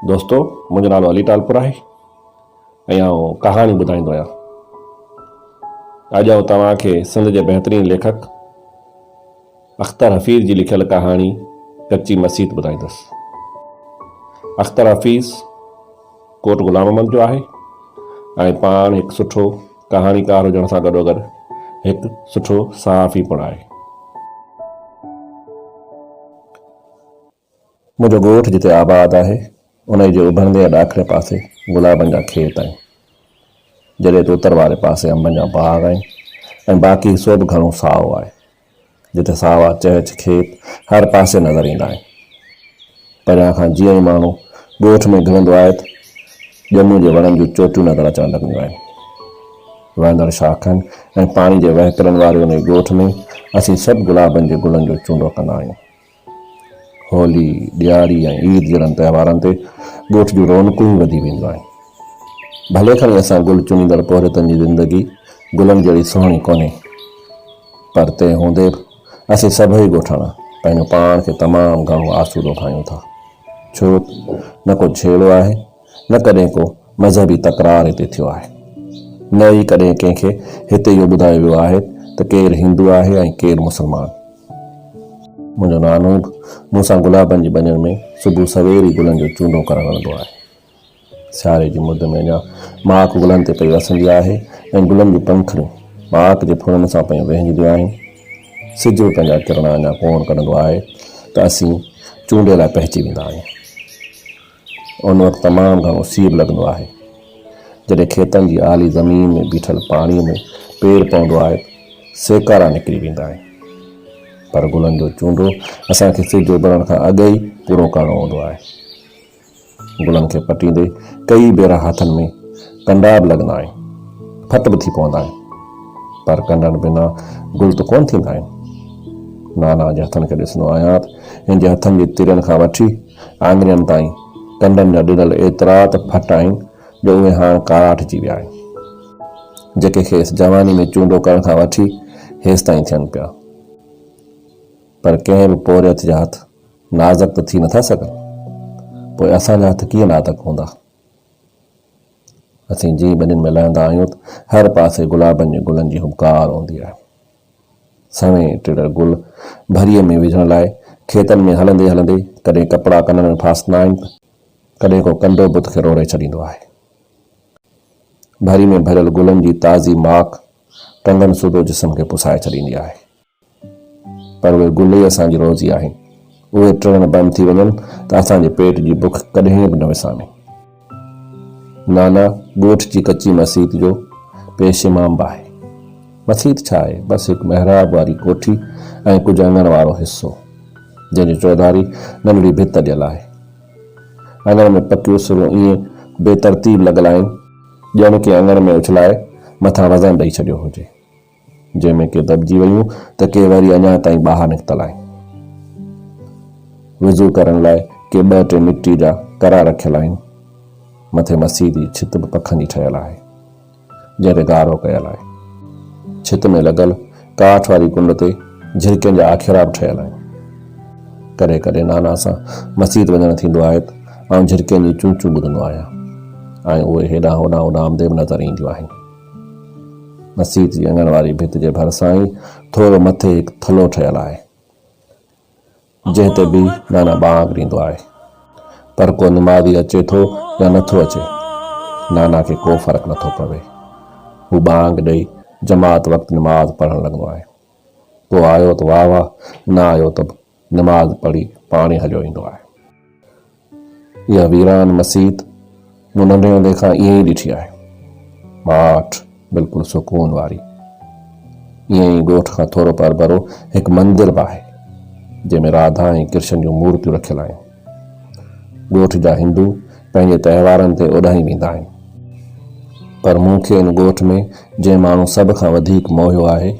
دوستو منهنجو نالو علي ٽالپر آهي ۽ آئون ڪهاڻي ٻڌائيندو آهيان. اڄ آئون توهان کي سنڌ جي بهترين ليکڪ اختر حفيظ جي لکيل ڪهاڻي ڪچي مسيت ٻڌائيندس. اختر حفيظ ڪوٽ غلام احمد جو آهي ۽ پاڻ هڪ سٺو ڪهاڻيڪار هجڻ سان گڏوگڏ هڪ سٺو صحافي پڻ آهي. منهنجو ڳوٺ جتي آباد آهي، انهيء جي اڀرندي ۽ ڏاکڻي پاسي گلابن جا کيت آهن، جڏهن ته اتر واري پاسي انبن جا باغ آهن ۽ باقي حصو به گهڻو سائو آهي، جتي ساوا چهچ کيت هر پاسي نظر ايندا آهن. پريان کان جيئن ئي ماڻهو ڳوٺ ۾ گهڙندو آهي ته ڄمون جي وڻن جون چوٽيون نظر اچڻ لڳنديون آهن. وهندڙ شاخن ۽ پاڻي جي وهڪرن واري انهيء ڳوٺ ۾ اسين سڀ گلابن جي گلن جو چونڊو ڪندا آهيون. هولي، ڏياري ۽ عيد جهڙن تهوارن تي ڳوٺ جون رونقون ئي وڌي وينديون آهن. ڀلي کڻي اسان گل چنيندڙ پورهيتن جي زندگي گلن جهڙي سهڻي ڪونهي پر تنهن هوندي به اسين سڀئي ڳوٺاڻا پنهنجو پاڻ کي تمام گهڻو آسودو ڀانيون ٿا. ڇو نه ڪو جهيڙو آهي. نه ڪڏهن ڪو مذهبي تڪرار هتي ٿيو آهي، نه ئي ڪڏهن ڪنهن کي هتي اهو ٻڌايو ويو آهي ته ڪير هندو آهي ۽ ڪير مسلمان. منهنجو نانونگ مون سان گلابن جي ٻنين ۾ صبح سوير ئي گلن جو چونڊو ڪرڻ ويندو آهي. سياري جي مد ۾ اڃا ماڪ گلن تي پئي وسندي آهي ۽ گلن جون پنکڙيون ماڪ جي ڦرن سان پيون وهنجنديون آهن. سج به پنهنجا ڪرڻا اڃا ڪونه ڪڍندو آهي ته اسين چونڊي لاء پهچي ويندا آهيون. ان وقت تمام گهڻو سيب لڳندو آهي. جڏهن کيتن جي آلي زمين ۾ بيٺل پاڻيء ۾ پير پوندو آهي ته سيڪارا نڪري ويندا آهن. پر گلن جو چونڊو اسان کي سج اڀرڻ کان اڳ ئي پورو ڪرڻو هوندو آهي. گلن کي پٽيندي ڪيئي ڀيرا هٿن ۾ ڪنڊا به لڳندا آهن، ڦٽ به ٿي پوندا آهن. پر ڪنڊن بنا گل ته ڪونه ٿيندا آهن. نانا جي هٿن کي ڏسندو آهيان ته هن جي هٿن جي ترين کان وٺي، آڱرين تائين ڪنڊن جا ڏنل ايترا ته ڦٽ آهن جو اهي هاڻ ڪاراٺ ٿي ويا آهن، جيڪي کيس جواني ۾ چونڊو ڪرڻ کان وٺي هيستائين ٿين پيا، پر ڪنهن به پورهيت جا هٿ نازڪ ته ٿي نٿا سگهن، پوء اسان جا هٿ ڪيئن نازڪ هوندا؟ اسين جيئن ٻنين ۾ لهندا آهيون ته هر پاسي گلابن جي گلن جي هٻڪار هوندي آهي. سهڻي ٽڙڙ گل ڀريء ۾ وجهڻ لاء کيتن ۾ هلندي هلندي ڪڏهن ڪپڙا ڪنن ۾ ڦاسندا آهن ته ڪڏهن ڪو ڪنڊو بت کي روڙي ڇڏيندو آهي. ڀري ۾ ڀريل گلن جي تازي ماڪ ٽنگن سوڌو جسم کي پسائي ڇڏيندي آهي. پر اهي گل ئي اسان جي روزي آهن. اهي ٽڙڻ بند ٿي وڃن ته اسان جي پيٽ جي بک ڪڏهن به نه وسامي. نانا ڳوٺ جي ڪچي مسيت جو پيش امام به آهي. مسيت ڇا آهي؟ بس هڪ محراب واري ڪوٺي ۽ ڪجهه اڱڻ وارو حصو، جنهن جي چوڌاري ننڍڙي ڀت اڏيل آهي. اڱڻ ۾ پڪيون سرون ائين بي ترتيب لڳل آهن، ڄڻ ڪنهن اڱڻ ۾ اڇلائي مٿان وزن ڏئي ڇڏيو هجي. جنهن ۾ ڪي دٻجي ويون ته ڪي وري اڃا تائين ٻاهر نڪتل آهن. وضو ڪرڻ لاء ڪي ٻه ٽي مٽي جا ڪرا رکيل آهن. مٿي مسيح جي ڇت به پکن جي ٺهيل آهي، جنهن تي گارو ڪيل آهي. ڇت ۾ لڳل ڪاٺ واري ڪنڊ تي جهرڪين جا آکيرا به ٺهيل آهن. ڪڏهن ڪڏهن نانا سان مسيت وڃڻ ٿيندو آهي ته آئون جهرڪين جون چون چون ٻڌندو آهيان ۽ اهي هيڏانهن هوڏانهن اڏامندي به نظر اينديون آهن. مسيت جي اڱڻ واري ڀت جي ڀرسان ئي ٿورو مٿي هڪ ٿلهو ٺهيل آهي، جنهن تي بي نانا ٻانگ ڏيندو آهي، پر ڪو نمازي اچي ٿو يا نٿو اچي، نانا کي ڪو فرق نٿو پوي. هو ٻانگ ڏئي جماعت وقت نماز پڙهڻ لڳندو آهي. ڪو آيو ته واهه واهه، نه آيو ته نماز پڙهي پاڻ ئي هليو ايندو آهي. اها ويران مسيت مون ننڍي هوندي کان ائين ئي ڏٺي آهي. ماٺ، بلڪل سڪون واري. ائين ئي ڳوٺ کان ٿورو پرڀرو هڪ مندر به آهي، جنهن ۾ راڌا ۽ ڪرشن جون مورتيون رکيل آهن. ڳوٺ جا هندو پنهنجي تهوارن تي اوڏانهن ويندا آهن. پر مون کي ان ڳوٺ ۾ جنهن ماڻهو سڀ کان وڌيڪ موهيو آهي،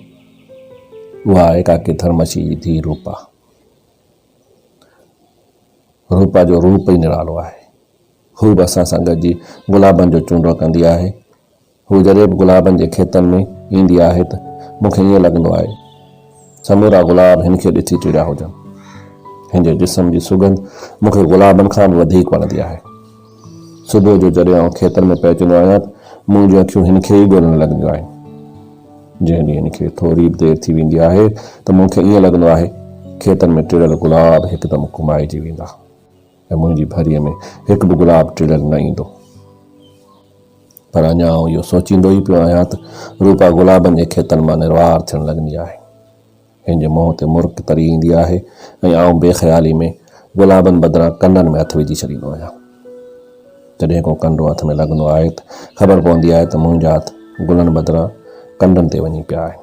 اها آهي ڪاڪي ٿرمشي جي ڌيء روپا. روپا جو روپ ئي نرالو آهي. هو به اسان سان گڏجي گلابن جو چونڊو ڪندي آهي. هو جڏهن به گلابن جي کيتن ۾ ايندي آهي ته مون کي ائين لڳندو آهي سمورا گلاب هن کي ڏسي چڙيا هجن. هن جي جسم جي سگنڌ مون کي گلابن کان به وڌيڪ وڻندي آهي. صبح جو جڏهن آئون کيتن ۾ پهچندو آهيان ته منهنجون اکيون هن کي ئي ڳولڻ لڳنديون آهن. جنهن ڏينهن هن کي ٿوري به دير ٿي ويندي آهي ته مون کي ائين لڳندو آهي کيتن ۾ ٽڙيل گلاب هڪدم ڪمائجي ويندا ۽ منهنجي ڀريء ۾ هڪ به گلاب ٽڙيل نه ايندو. پر اڃا آئون اهو سوچيندو ئي پيو آهيان ته روپا گلابن جي کيتن مان نروار ٿيڻ لڳندي آهي. هن جي منهن تي مرڪ تري ايندي آهي ۽ آئون بي خيالي ۾ گلابن بدران ڪنڊن ۾ هٿ وجهي ڇڏيندو آهيان. جڏهن ڪو ڪنڊو هٿ ۾ لڳندو آهي ته خبر پوندي آهي ته منهنجا هٿ گلن بدران ڪنڊن تي وڃي پيا آهن.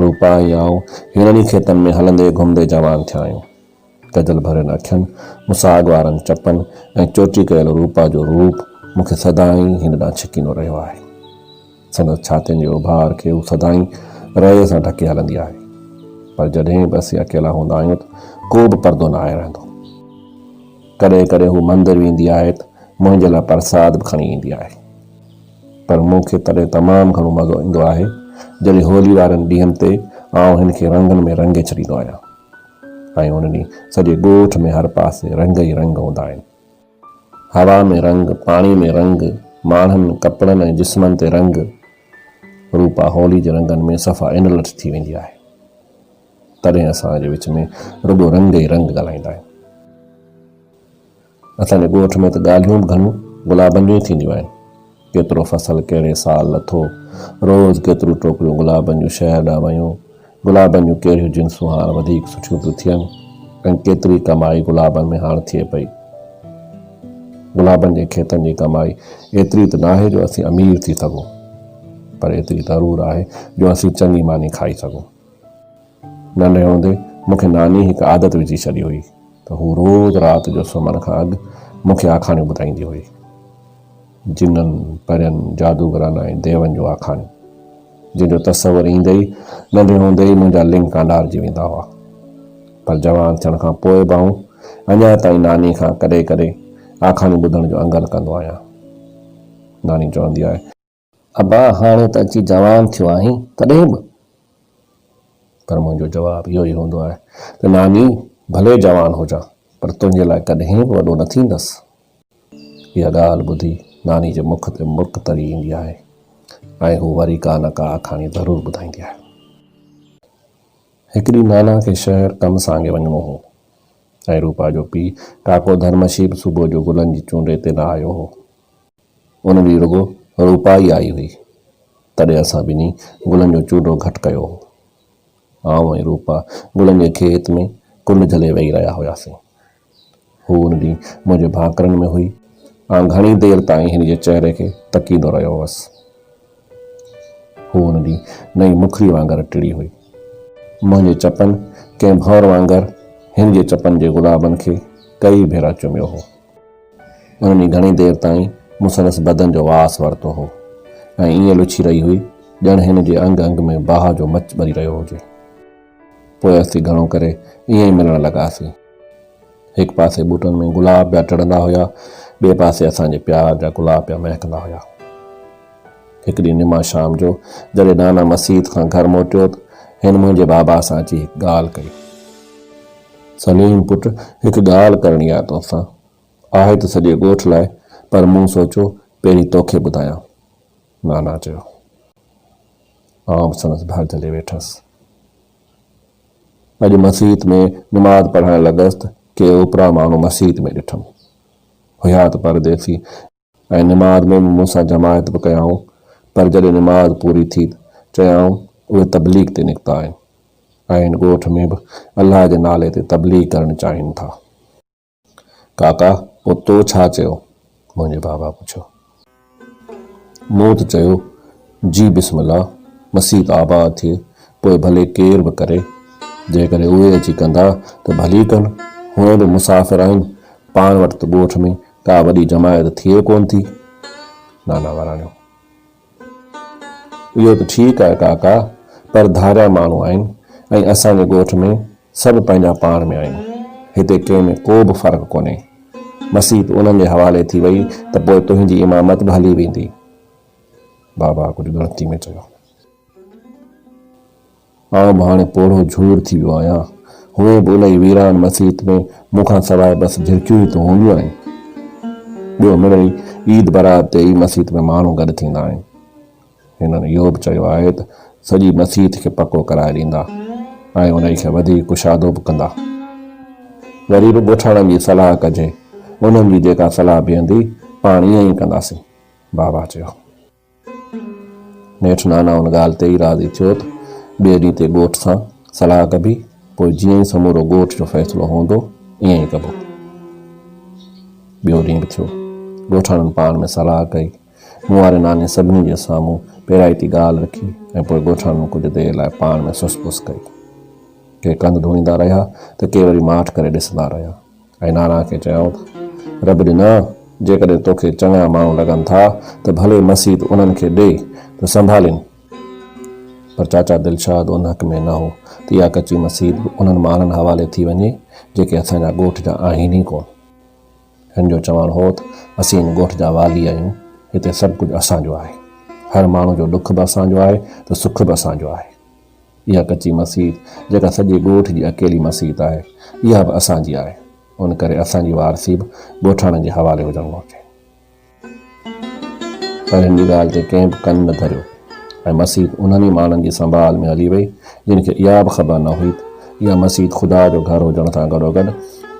روپا ۽ آئون هيرن ئي کيتن ۾ هلندي گهمندي جوان ٿيا آهيون. ڪجل ڀريل اکين، مساڳ وارن چپن ۽ چوٽي ڪيل روپا جو روپ مون کي سدائين هن ڏانهن ڇڪيندو رهيو آهي. سندس ڇاتين جي اڀار کي هو سدائين رئي سان ڍڪي هلندي آهي. پر جڏهن به اسين اڪيلا هوندا آهيون ته ڪو به پردو نه آهي رهندو. ڪڏهن ڪڏهن هو مندر ويندي آهي ته منهنجي لاء پرساد به کڻي ايندي آهي. پر مون کي تڏهن تمام گهڻو مزو ايندو آهي جڏهن هولي وارن ڏينهن تي آئون هن کي رنگن ۾ رنگي ڇڏيندو آهيان. ۽ ان ڏينهن سڄي ڳوٺ ۾ هر پاسي رنگ ئي رنگ هوندا آهن. هوا ۾ رنگ، پاڻي ۾ رنگ، ماڻهن، ڪپڙن ۽ جسمن تي رنگ. روپا هولي جي رنگن ۾ صفا انلٽ ٿي ويندي آهي. تڏهن اسان جي وچ ۾ رڳو رنگ ئي رنگ ڳالهائيندا آهن. اسان جي ڳوٺ ۾ ته ڳالهيون به گهڻيون گلابن جون ئي ٿينديون آهن. ڪيترو فصل ڪهڙي سال لٿو، روز ڪيتريون ٽوڪريون گلابن جون شهر ڏانهن ويون، گلابن جون ڪهڙيون جنسون هاڻ وڌيڪ سٺيون پيون ٿين ۽ ڪيتري ڪمائي گلابن ۾ هاڻ ٿئي پئي. گلابن جي کيتن جي ڪمائي ايتري ته ناهي جو اسين امير ٿي سگهون، پر ايتري ضرور آهي جو اسين چڱي ماني کائي سگهون. ننڍي هوندي مون کي ناني هڪ عادت وجهي ڇڏي هئي ته هو روز رات جو سمهڻ کان اڳ مون کي آکاڻيون ٻڌائيندي هئي. جنن، پرين، جادوگرن ۽ ديون جون آکاڻيون. جن جو تصور ايندي ئي ننڍي هوندي ئي منهنجا لنگ ڪانڊارجي ويندا هئا. پر جوان ٿيڻ کان پوء به آئون اڃا تائين ناني کان ڪڏهن ڪڏهن آکاڻيون ٻڌڻ جو انگل ڪندو آهيان. ناني چوندي آهي. ابا هاڻي ته اچي جوان ٿيو آهين تڏهن به؟ پر منهنجو جواب اهو ئي هوندو آهي ته ناني ڀلي جوان هجان پر تنهنجي لاء ڪڏهن به وڏو نه ٿيندس. اها ڳالهه ٻڌي ناني جي مک تي مرڪ تري ايندي آهي ۽ هو وري ڪا نه ڪا آکاڻي ضرور ٻڌائيندي آهي. هڪ ڏينهن نانا کي شهر ڪم سانگي وڃڻو هو ۽ روپا جو پيء ڪاڪو ڌرمشيب صبح جو گلن جي چونڊي تي نه آيو هو. ان ڏينهن رڳو روپا ئي آئي هئي، تڏهن اسان ٻنهي گلن جو چولهو گهٽ ڪيو هو. آئون ۽ روپا گلن جي کيت ۾ ڪنڊ جهلي ويهي رهيا هياسين. هوء ان ڏينهن منهنجي ڀانڪرن ۾ هئي. آئون گهڻي دير تائين هن جي چهري کي تڪيندو رهيو هوس. هوء ان ڏينهن نئين مکڙي وانگر ٽڙي هئي. منهنجي چپن ڪنهن ڀنور وانگر هن جي چپن جي گلابن کي ڪيئي ڀيرا چميو هو. انهن ئي گهڻي دير تائين مون سندس بدن جو واس ورتو هو ۽ ائين لڇي رهي هئي، ڄڻ هن جي انگ انگ ۾ باهه جو مچ ٻري رهيو هجي. پوء اسين گهڻو ڪري ائين ئي ملڻ لڳاسين. هڪ پاسي ٻوٽن ۾ گلاب پيا ٽڙندا هيا، ٻئي پاسي اسان جي پيار جا گلاب پيا مهڪندا هيا. هڪ ڏينهن نما شام جو جڏهن نانا مسيت کان گهر موٽيو ته هن منهنجي بابا سان اچي هڪ ڳالهه ڪئي. سليم پٽ هڪ ڳالهه ڪرڻي آهي توسان. آهي ته سڄي ڳوٺ لاء پر مون سوچيو پهرين توکي ٻڌايان. نانا چيو. آئون به سندس ڀر جهلي ويٺس. اڄ مسيت ۾ نماز پڙهڻ لڳس ته ڪي اوپرا ماڻهو مسيت ۾ ڏٺم. هيا ته پرديسي. ۽ نماز ۾ به مون سان جماعت به ڪيائون، پر جڏهن نماز پوري ٿي چيائون اهي تبليغ تي نڪتا آهن ۽ هن ڳوٺ ۾ به الله جي نالي تي تبليغ ڪرڻ چاهين ٿا. ڪاڪا پوء تو ڇا چيو؟ منهنجي بابا پڇيو. مون ته چيو جي بسم الله مسيت آباد ٿئي پوء ڀلي ڪير به ڪري، جيڪڏهن اهي اچي ڪندا ته ڀلي ڪن، هونئن به مسافر آهن، پاڻ وٽ ته ڳوٺ ۾ ڪا وڏي جماعت ٿئي ڪونه ٿي. نانا وراڻيو. اهو ته ٺيڪ آهي ڪاڪا، پر ڌاريا ماڻهو آهن ۽ اسان جي ڳوٺ ۾ سڀ پنهنجا پاڻ ۾ آهيون. هتي ڪنهن ۾ ڪو به فرق ڪونهي. مسيت انهن جي حوالي ٿي وئي ته پوء تنهنجي امامت به هلي ويندي. بابا ڪجهه ڳڻتي ۾ چيو. آئون به هاڻي پوڙهو جهور ٿي ويو آهيان. هونئن به انهيء ويران مسيت ۾ مون کان سواء بس جهرڪيون ئي تون هونديون آهن. ٻيو مڙئي عيد برات تي ئي مسيت ۾ ماڻهو گڏ ٿيندا آهن. هنن اهو به چيو آهي ته سڄي مسيت کي پڪو ڪرائي ڏيندا ۽ انهيء کي وڌيڪ ڪشادو به ڪندا. وري به ڳوٺاڻن جي صلاح ڪجي. انهن جي جيڪا صلاح بيهندي، پاڻ ائين ئي ڪنداسين. بابا چيو. نيٺ نانا ان ڳالهه تي ئي راضي ٿيو ته ٻئي ڏينهن تي ڳوٺ سان صلاح ڪبي، پوء جيئن ئي سمورو ڳوٺ جو فيصلو هوندو ائين ئي ڪبو. ٻيو ڏينهن به ٿيو. ڳوٺاڻن پاڻ ۾ صلاح ڪئي. مون واري ناني سڀني جي سامهون پيرائتي ڳالهه رکي ۽ پوء ڳوٺاڻن ڪجهه دير لاء پاڻ ۾ سس پس ڪئي. ڪي ڪنڌ ڌوڻيندا رهيا ته ڪي وري ماٺ ڪري ڏسندا رهيا. ۽ ناران کي چيائون ته، رب ڏنا! جيڪڏهن توکي چڱا ماڻهو لڳن ٿا ته ڀلي مسيت انهن کي ڏي ته سنڀالين. پر چاچا دلشاد ان حق ۾ نه هو ته اها ڪچي مسيت به انهن ماڻهن حوالي ٿي وڃي جيڪي اسان جا ڳوٺ جا آهن ئي ڪونه. هن جو چوڻ هو ته اسين هن ڳوٺ جا والي آهيون، هتي سڀ ڪجهه اسان جو آهي. هر ماڻهو جو ڏک به اسان جو آهي ته سک به اسان جو آهي. اها ڪچي مسيت جيڪا سڄي ڳوٺ جي اڪيلي مسيت آهي، اها به اسان جي آهي، ان ڪري اسان جي وارثي به ڳوٺاڻن جي حوالي هجڻ گهرجي. پر هن جي ڳالهه تي ڪنهن به ڪن نه ڌريو ۽ مسيت انهن ئي ماڻهن جي سنڀال ۾ هلي وئي، جن کي اها به خبر نه هئي ته اها مسيت خدا جو گهر هجڻ سان گڏوگڏ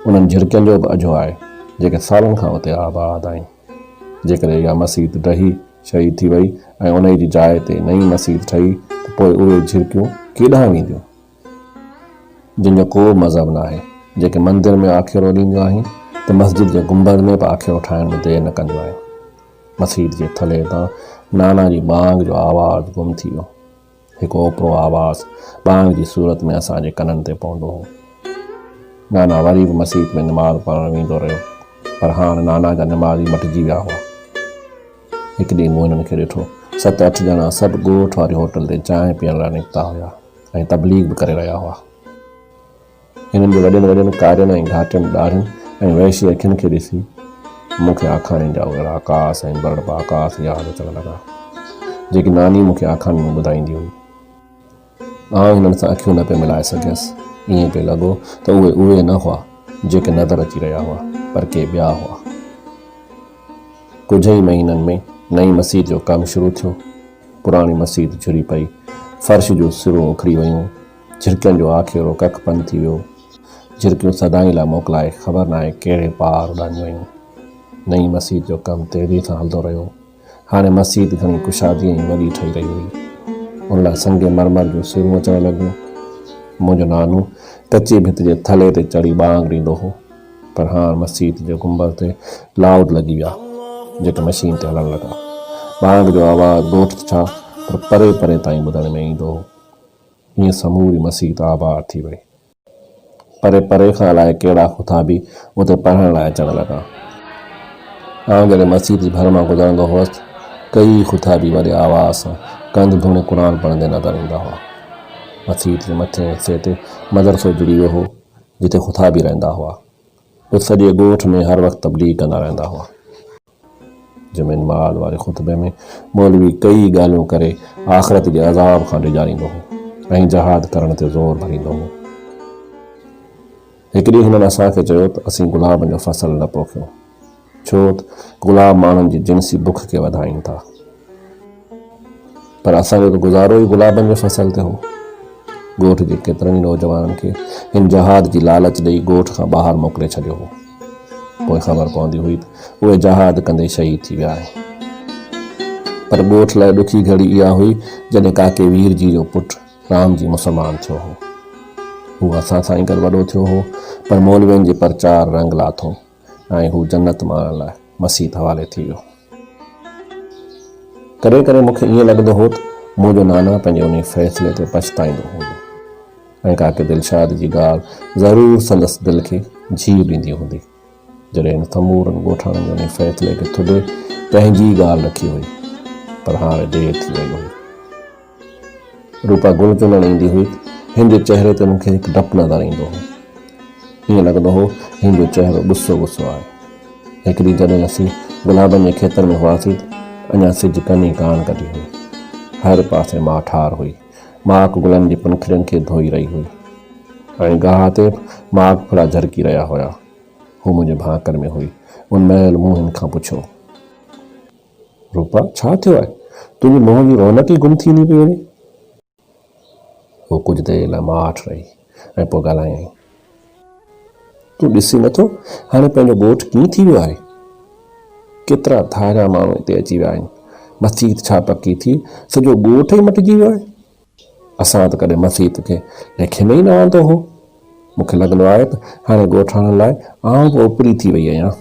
انهن جهرڪين جو به اجهو آهي، جيڪي سالن کان اتي آباد آهن. جيڪڏهن اها مسيت ڊهي شهيد ٿي وئي ۽ انهي جي جاء تي نئين مسيت ٺهي ته پوء اهي جهرڪيون ڪيڏانهن وينديون جن جو ڪو مذهب ناهي جيڪي مندر ۾ آکيرو ڏينديون آهن ته مسجد جي گنبذ ۾ به آکيرو ٺاهڻ ۾ دير نه ڪنديون آهن مسيت جي ٿلهي تان نانا جي ٻانگ جو آواز گم ٿي ويو. هڪ اوپرو آواز ٻانگ جي صورت ۾ اسان جي ڪنن تي پوندو هو. نانا وري به مسيت ۾ نماز پڙهڻ ويندو رهيو، پر هاڻ نانا جا نمازي مٽجي ويا هئا. هڪ ڏينهن مون هنن کي ڏٺو. ست اٺ ڄڻا سڀ ڳوٺ واري هوٽل تي چانهه پيئڻ لاء نڪتا هيا ۽ تبليغ به ڪري رهيا هئا. هنن جي وڏين وڏين ڪارين ۽ گهاٽين ڏاڙهين ۽ وحشي اکين کي ڏسي مون کي آکاڻين جا اهڙا آڪاس ۽ برڙ باڪاس ياد اچڻ لڳا، جيڪي ناني مون کي آکاڻين ۾ ٻڌائيندي هئي. آئون هنن سان اکيون نه پئي ملائي سگهيس. ائين پئي لڳو ته اهي اهي نه هئا، جيڪي نظر اچي رهيا هئا، پر ڪي ٻيا هئا. ڪجهه ئي مهينن ۾ نئين مسيت جو ڪم شروع ٿيو. پراڻي مسيت جھري پئي. فرش جون سرون اکڙي ويون. جھرڪين جو آکيرو ڪک پن ٿي ويو. جھرڪيون سدائين لاء موڪلائي خبر ناهي ڪهڙي پار اڏاميون ويون. نئين مسيت جو ڪم تيزيء سان هلندو رهيو. هاڻي مسيت گھڻي ڪشادي ۽ وڏي ٺهي رهي هئي. ان لاء سنگ مرمر جون سرون اچڻ لڳيون. منهنجو نانو ڪچي ڀت جي ٿلهي تي چڙهي ٻانگ ڏيندو هو. پر هاڻ مسيت جي گنبذ تي لائوڊ لڳي ويا، جيڪي مشين تي هلڻ لڳا. ٻانگ جو آواز ڳوٺ ڇا پر پري پري تائين ٻڌڻ ۾ ايندو هو. ائين سموري مسيت آباد ٿي وئي. پري پري کان الائي ڪهڙا خطا به اتي پڙهڻ لاء اچڻ لڳا. آئون جڏهن مسيت جي ڀر مان گذرندو هوس ته ڪيئي خطا به وڏي آواز سان ڪنڌ ڌوڻي قرآن پڙهندي نظر ايندا هئا. مسيت جي مٿئين حصي تي مدرسو جڙي ويو هو، جتي خطا به رهندا هئا. اتي سڄي ڳوٺ ۾ هر وقت تبليغ ڪندا رهندا هئا. جمعي المعاد واري خطبي ۾ مولوي ڪيئي ڳالهيون ڪري آخرت جي عذاب کان ڊيڄاريندو هو ۽ جهاد ڪرڻ تي زور ڀريندو هو. هڪ ڏينهن هنن اسان کي چيو ته اسين گلابن جو فصل نه پوکيون ڇو ته گلاب ماڻهن جي جنسي بک کي وڌائين ٿا. پر اسان جو ته گذارو ئي گلابن جي فصل تي هو. ڳوٺ جي ڪيترن ئي نوجوانن کي هن جهاد جي لالچ ڏئي ڳوٺ کان ٻاهر موڪلي ڇڏيو هو. پوء خبر پوندي هئي ته اهي جهاد ڪندي شهيد ٿي ويا آهن. پر ڳوٺ لاء ڏکي گهڙي اها هئي جڏهن ڪاڪي وير جي جو پٽ رام جي مسلمان ٿيو هو. هو اسان سان ئي گڏ وڏو ٿيو هو پر مولوين جي پرچار رنگ لاٿو. ۽ هو جنت ماڻڻ لاء مسيت حوالي ٿي ويو. ڪڏهن ڪڏهن مون کي ائين لڳندو هو ته منهنجو نانا پنهنجي انهي فيصلي تي پڇتائيندو هوندو ۽ ڪاڪي دلشاد جي ڳالهه ضرور سندس دل کي جيء ڏيندي هوندي. جڏهن هن سمورن ڳوٺاڻن جي انهي فيصلي کي ٿڏي پنهنجي ڳالهه رکي هئي پر هاڻي دير ٿي وئي هئي. روپا گل ڪنڻ ايندي هئي، هن جي چهري تي مون کي هڪ ڊپ نظر ايندو هو. ائين لڳندو هو، هن جو چهرو غصو غصو آهي. هڪ ڏينهن جڏهن اسين گلابن جي کيتن ۾ هئاسين ته اڃا سج ڪني ڪانه ڪڍي هئي. هر پاسي ماء ٺار هئي. ماک گلن جي پنکڙين کي ڌوئي رهي هئي ۽ گاهه تي ماک ڦڙا جهرڪي رهيا هيا. هوء منهنجي ڀانڪن ۾ هئي. ان مهل مون هن کان پڇيو. روپا، ڇا ٿيو آهي؟ تنهنجي منهن جي رونق ئي گم ٿيندي پئي وڃي. هوء ڪجهه دير لاء ماٺ رهي ۽ پوء ڳالهايائين. تون ڏسين نٿو هاڻي پنهنجو ڳوٺ ڪيئن ٿي ويو آهي. ڪيترا ڌاريا ماڻهو اتي اچي ويا آهن. مسجد ڇا پڪي ٿي، سڄو ڳوٺ ئي مٽجي ويو آهي. اسان ته ڪڏهن مسيت کي ليکي ۾ ئي نه آندو هو. مون کي لڳندو آهي ته هاڻي ڳوٺاڻن لاء آئون به اوپري ٿي وئي آهيان.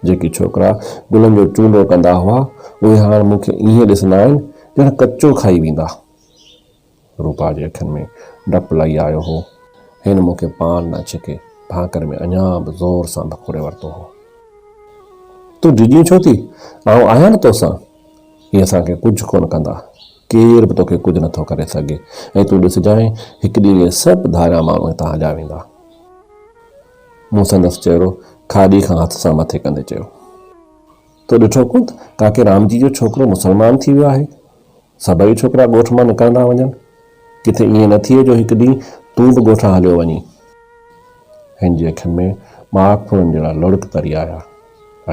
جيڪي ڇوڪرا گلن جو چونڊو ڪندا هئا، اهي هاڻ مون کي ائين ڏسندا آهن ڄڻ ڪچو کائي ويندا. روپا جي اکين ۾ ڊپ لهي آيو هو. هن مون کي پاڻ نه ڇڪي ڀانڪر ۾ اڃا به زور سان ڀڪوڙي ورتو هو. تون ڊڄين ڇو ٿي؟ آئون آهيان نه توسان. اهي اسان کي ڪجهه ڪونه ڪندا. ڪير به توکي ڪجهه نٿو ڪري سگهي ۽ تون ڏسجانء هڪ ڏينهن اهي سڀ ڌاريا ماڻهو هتان هليا ويندا. مون سندس چهرو کاڏي کان هٿ سان مٿي ڪندي چيو. تو ڏٺو ڪونه ته ڪاڪي رام جي جو ڇوڪرو مسلمان ٿي ويو آهي. سڀئي ڇوڪرا ڳوٺ مان نڪرندا وڃن. ڪٿي ائين نه ٿئي جو هڪ ڏينهن تون به ڳوٺان هليو وڃين. هن جي اکين ۾ ماک ڦرن جهڙا لڙڪ تري آيا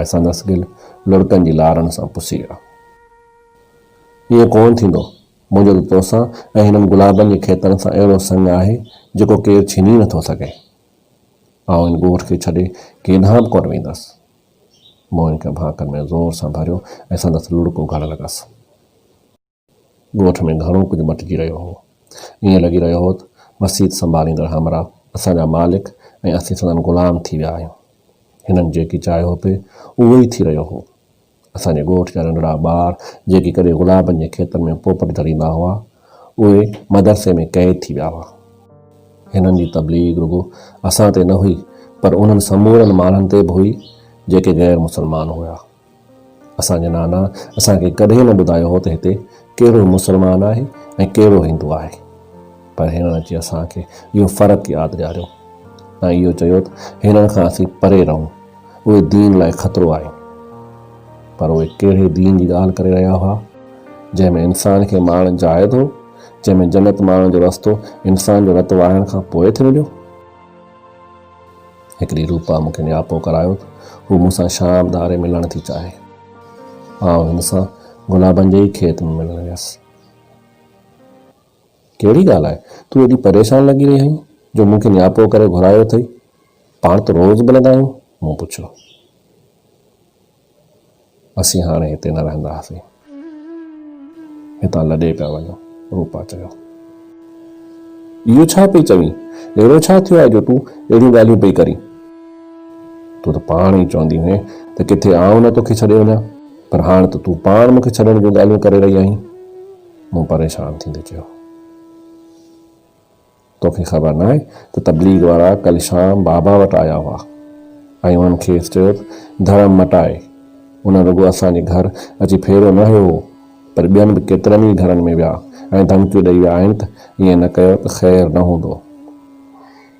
۽ سندس ڳل لڙڪن جي لارن سان پسي ويا. ائين ڪونه ٿيندو. منهنجو ته توسان ۽ هنن گلابن جي کيتن سان اهڙو سڱ آهي، جيڪو ڪير ڇيني نه ٿو سگهي. آئون هن ڳوٺ کي ڇڏي ڪيڏانهن به ڪونه ويندس. مون هن کي ڀانڪن ۾ زور سان ڀريو ۽ سندس لڙڪون گهڙڻ لڳس. ڳوٺ ۾ گهڻو ڪجهه مٽجي رهيو هو. ائين لڳي رهيو هو ته مسيت سنڀاليندڙ همراهه اسان جا مالڪ ۽ اسين سندن غلام ٿي ويا آهيون. هنن جيڪي چاهيو پئي، اهو ئي ٿي رهيو هو. اسان جي ڳوٺ جا ننڍڙا ٻار جيڪي ڪڏهن گلابن جي کيتن ۾ پوپٽ ڌڙيندا هئا، اهي مدرسي ۾ قيد ٿي ويا هئا. هنن جي تبليغ رڳو اسان تي نه هئي پر انهن سمورن ماڻهن تي به هئي جيڪي غير مسلمان هيا. اسان جي نانا اسان کي ڪڏهن نه ٻڌايو هو ته هتي ڪهڙو مسلمان آهي ۽ ڪهڙو هندو آهي. پر هنن اچي اسان کي اهو فرق ياد ڏياريو ۽ اهو چيو ته هنن کان اسين پري رهون، اهي دين لاء خطرو آهن. پر اهي ڪهڙي دين جي ڳالهه ڪري رهيا هئا، جنهن ۾ انسان کي مارڻ جائز هو، جنهن ۾ جنت ماڻڻ جو رستو انسان جو رت وهائڻ کان پوء ٿي مليو. هڪ ڏينهن روپا مون کي نياپو ڪرايو ته هو مون سان شام ڌاري ملڻ ٿي چاهي. آئون هن سان گلابن جي ئي کيت ۾ ملڻ ويس. ڪهڙي ڳالهه آهي، تون ايڏي پريشان لڳي رهي آهين جو مون کي نياپو ڪري گهرايو اٿئي؟ پاڻ ته روز ملندا آهيون. مون پڇيو. اسين هاڻي هتي نه رهنداسين. هتان لڏي پيا وڃو. روپا چيو. اهو ڇا پئي چوين؟ اهڙو ڇا ٿيو آهي جو تون اهڙيون ڳالهيون پئي ڪرين؟ تون ته پاڻ ئي چوندي هئين ته ڪٿي آئون نه توکي ڇڏي وڃان، پر هاڻ ته تون پاڻ مون کي ڇڏڻ جون ڳالهيون ڪري رهي آهين. مون پريشان ٿيندي چيو. توکي خبر ناهي ته تبليغ وارا ڪل شام بابا وٽ آيا هئا ۽ انهن کيس چيو ته ڌرم مٽائي. انهن رڳو اسان جي گهر اچي ڦيرو نه هنيو هو پر ٻين به ڪيترن ئي گهرن ۾ ويا ۽ ڌمڪيون ڏئي ويا آهن ته ائين نه ڪيو ته خير نه هوندو.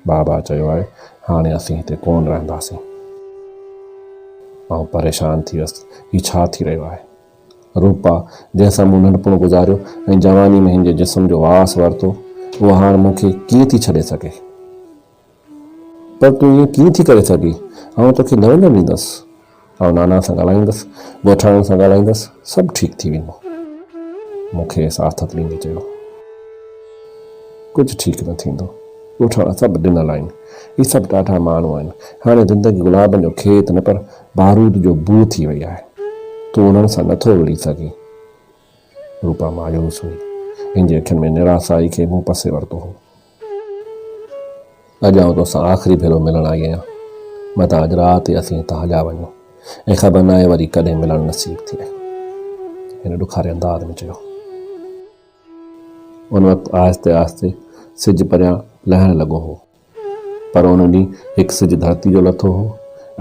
بابا چيو آهي هاڻي اسين هتي ڪونه رهنداسين. آئون پريشان ٿي ويس ته هي ڇا ٿي رهيو آهي. روپا، جنهن سان مون ننڍپڻ گذاريو ۽ جواني ۾ هن جي جسم جو واس ورتو، اها هاڻ مون کي ڪيئن ٿي ڇڏي سگهي؟ پر تون ائين ڪيئن ٿي ڪري سگهين؟ آئون توکي نه وڃڻ ڏيندس. آئون نانا سان ڳالهائيندس، ڳوٺاڻن سان ڳالهائيندس، سڀ ٺيڪ ٿي ويندو. مون کيس آٿت ڏيندي چيو. ڪجهه ٺيڪ نه ٿيندو. ڳوٺاڻا سڀ ڏنل آهن. هي سڀ ڏاڍا ماڻهو آهن. هاڻي زندگي گلابن جو کيت نه پر بارود جو بوء ٿي وئي آهي. تون انهن سان نٿو وڙهي سگهين. روپا مايوس هئي. هن جي اکين ۾ نراسائي کي مون پسي ورتو هو. اڄ آئون تو سان آخري ڀيرو ملڻ آئي آهيان. متان اڄ رات ئي اسين هتان هليا وڃون ۽ خبر ناهي وري ڪڏهن ملڻ نصيب ٿئي. هن ڏکاري انداز ۾ چيو. ان وقت آهستي آهستي سج پريان لهڻ لڳو هو. پر ان ڏينهن هڪ سج ڌرتي جو لٿو هو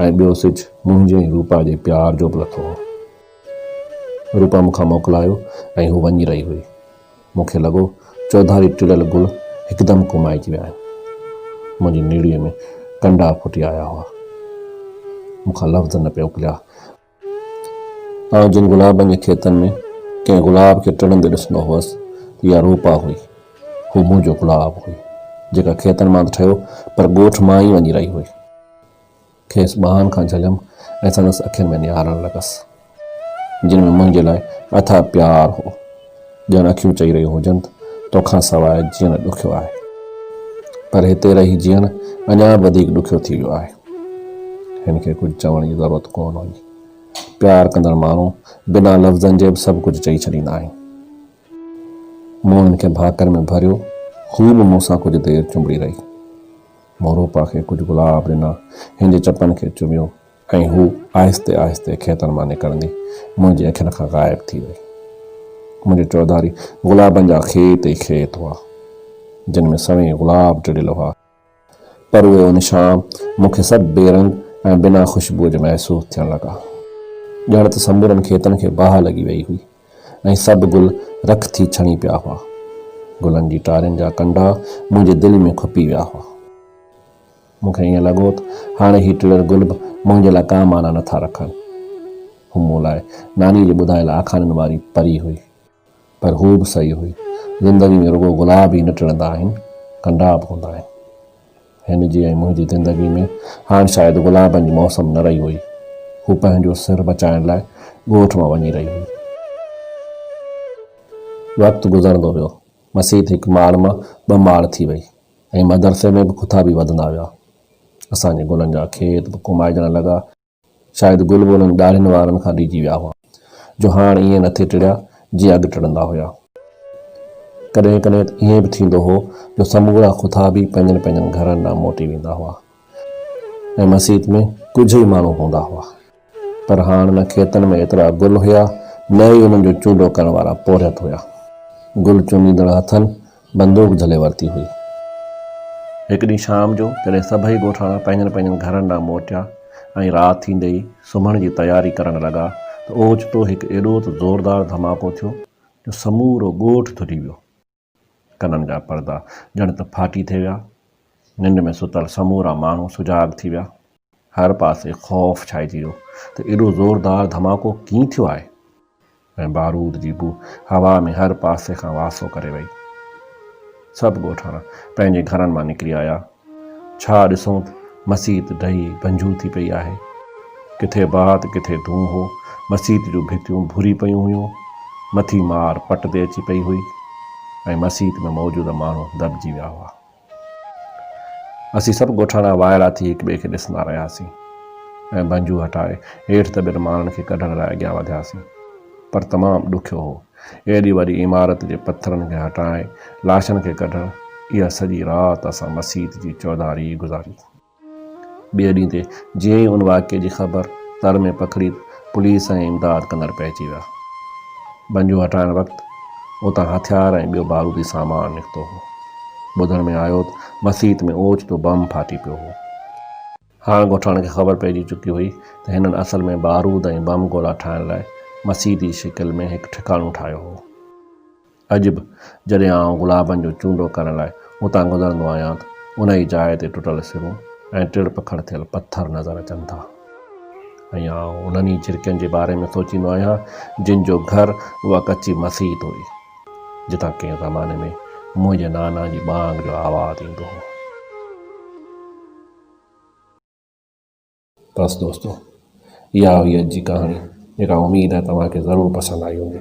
۽ ٻيو سج منهنجي ۽ روپا جي پيار جو به لٿو هو. روپا مون کان موڪلايو ۽ هو وڃي رهي هئي. مون کي لڳو چوڌاري ٽڙيل گل هڪدم ڪومائجي ويا آهن. منهنجي نيڙيء ۾ ڪنڊا ڦٽي آيا هئا. مون کان لفظ نه پئي اڪليا. آئون جن گلابن جي کيتن ۾ ڪنهن گلاب کي ٽڙندي ڏسندو هوس ته اها روپا هئي. هو منهنجو گلاب هئي، جيڪا کيتن مان ته ٺهيو پر ڳوٺ مان ئي وڃي رهي هئي. کيس ٻانهن کان جهليم ۽ سندس اکين ۾ نهارڻ لڳس، جن ۾ منهنجي لاء اٿاهه پيار هو. ڄڻ اکيون چئي رهيون هجن توکان سواء جيئڻ ڏکيو آهي. پر هتي رهي جيئڻ اڃا به وڌيڪ ڏکيو ٿي ويو آهي. هن کي ڪجهه چوڻ جي ضرورت ڪونه هئي. پيار ڪندڙ ماڻهو بنا لفظن جي به سڀ ڪجهه چئي ڇڏيندا آهن. مون هن کي ڀاڪر ۾ ڀريو، هو به مون سان ڪجهه دير چنبڙي رهي. مون روپا کي ڪجهه گلاب ڏنا، هن جي چپن کي چميو. ۽ هوء آهستي آهستي کيتن مان نڪرندي منهنجي اکين کان غائب ٿي وئي. منهنجي چوڌاري گلابن جا کيت ئي کيت هئا، جن ۾ سوين گلاب ٽڙيل هئا، پر اهي ان شام مون کي سڀ بي رنگ ۽ بنا خوشبوء جي محسوس ٿيڻ لڳا. ڄڻ ته سمورن کيتن کي باهه لڳي وئي هئي ۽ سڀ گل رک ٿي ڇڻي پيا هئا. گلن جي ٽارين جا ڪنڊا منهنجي دل ۾ کپي ويا هئا. مون کي ائين لڳو ته هاڻي هي ٽڙيل گل به منهنجي لاء ڪا معنيٰ نه ٿا رکن. هو مون لاء نانيء جي ٻڌايل آکاڻين واري پري هئي. پر هو به صحيح هئي. زندگيء ۾ رڳو گلاب ئي نه ٽڙندا آهن، ڪنڊا به هوندا آهن. هن جي ۽ منهنجي زندگيء ۾ هاڻ شايد گلابن جي موسم نه رهي هئي. هو پنهنجو سر بچائڻ لاء ڳوٺ مان وڃي رهي هئي. وقت گذرندو ويو. مسيت هڪ ماڙ مان ٻه ماڙ ٿي وئي. ۽ مدرسي ۾ به کٿا به وڌندا ويا. اسان جي گلن جا کيت به ڪومائجڻ لڳا. شايد گل به انهن ڏاڙهين وارن کان ڊڄي ويا هئا، جو هاڻ ائين نه ٿي ٽڙيا، جيئن اڳ ٽڙندا هيا. ڪڏهن ڪڏهن ته ائين به ٿيندو هو، جو سمورا کٿا به پنهنجن پنهنجن گهرن ڏانهن موٽي ويندا هئا ۽ مسيت ۾ ڪجهه ئي ماڻهو هوندا هئا. پر هاڻ نه کيتن ۾ ايترا گل هيا، نه ئي انهن جو چونڊو ڪرڻ وارا پورهيت هيا. گل چونڊيندڙ هٿن بندوق جهلي ورتي هئي. هڪ ڏينهن شام جو جڏهن سڀئي ڳوٺاڻا پنهنجن پنهنجن گهرن ڏانهن موٽيا ۽ رات ٿيندي ئي سمهڻ جي تياري ڪرڻ لڳا ته اوچتو هڪ ايڏو ته زوردار ڌماڪو ٿيو جو سمورو ڳوٺ ڌري ويو. ڪنن جا پردا ڄڻ ته ڦاٽي ٿي ويا. ننڊ ۾ ستل سمورا ماڻهو سجاڳ ٿي ويا. هر پاسي خوف ڇائجي ويو ته ايڏو زوردار ڌماڪو ڪيئن ٿيو آهي ۽ بارود جي بوء هوا ۾ هر پاسي کان واسو ڪري وئي. سڀ ڳوٺاڻا پنهنجي گهرن مان نڪري آيا. ڇا ڏسون ته مسيت ڊهي بنجهو ٿي پئي آهي. ڪٿي باهه ته ڪٿي دونهون هو. مسيت جون ڀتيون ڀوري پيون هيون. مٿي مار پٽ تي اچي پئي هئي ۽ مسيت ۾ موجود ماڻهو دٻجي ويا هئا. اسين سڀ ڳوٺاڻا وائڙا ٿي هڪ ٻئي کي ڏسندا رهياسين ۽ بنجهو هٽائي هيٺ دٻيل ماڻهن کي ڪڍڻ لاء اڳيان وڌياسين. پر تمام ڏکيو هو. ايڏي وڏي عمارت جي پٿرن کي هٽائي لاشن کي ڪڍڻ اها سڄي رات اسان مسيت جي چوڌاري ئي گذاري. ٻئي ڏينهن تي جيئن ئي ان واقعي جي خبر تر ۾ پکڙي ته پوليس ۽ امداد ڪندڙ پئجي ويا. ٻنجون هٽائڻ وقت اتان هٿيار ۽ ٻيو بارودي سامان نڪتو هو. ٻڌڻ ۾ آيو ته مسيت ۾ اوچتو بم ڦاٽي پيو هو. هاڻ ڳوٺاڻن کي خبر پئجي چڪي هئي ته هنن اصل ۾ بارود ۽ بم گولا ٺاهڻ لاء مسيت جي شڪل ۾ هڪ ٺڪاڻو ٺاهيو هو. اڄ به جڏهن آئون گلابن جو چونڊو ڪرڻ لاء اتان گذرندو آهيان ته ان ئي جاء تي ٽٽل سرون ۽ ٽڙ پکڙ ٿيل پٿر نظر اچن ٿا ۽ آئون انهن ئي جهرڪين جي باري ۾ سوچيندو آهيان جن جو گهر اها ڪچي مسيت هئي جتان ڪنهن زماني ۾ منهنجي نانا جي ٻانگ جو آواز ايندو هو. بس دوستو اها هئي اڄ جي ڪهاڻي جيڪا اميد آهي توهان کي ضرور پسند آئي هوندي.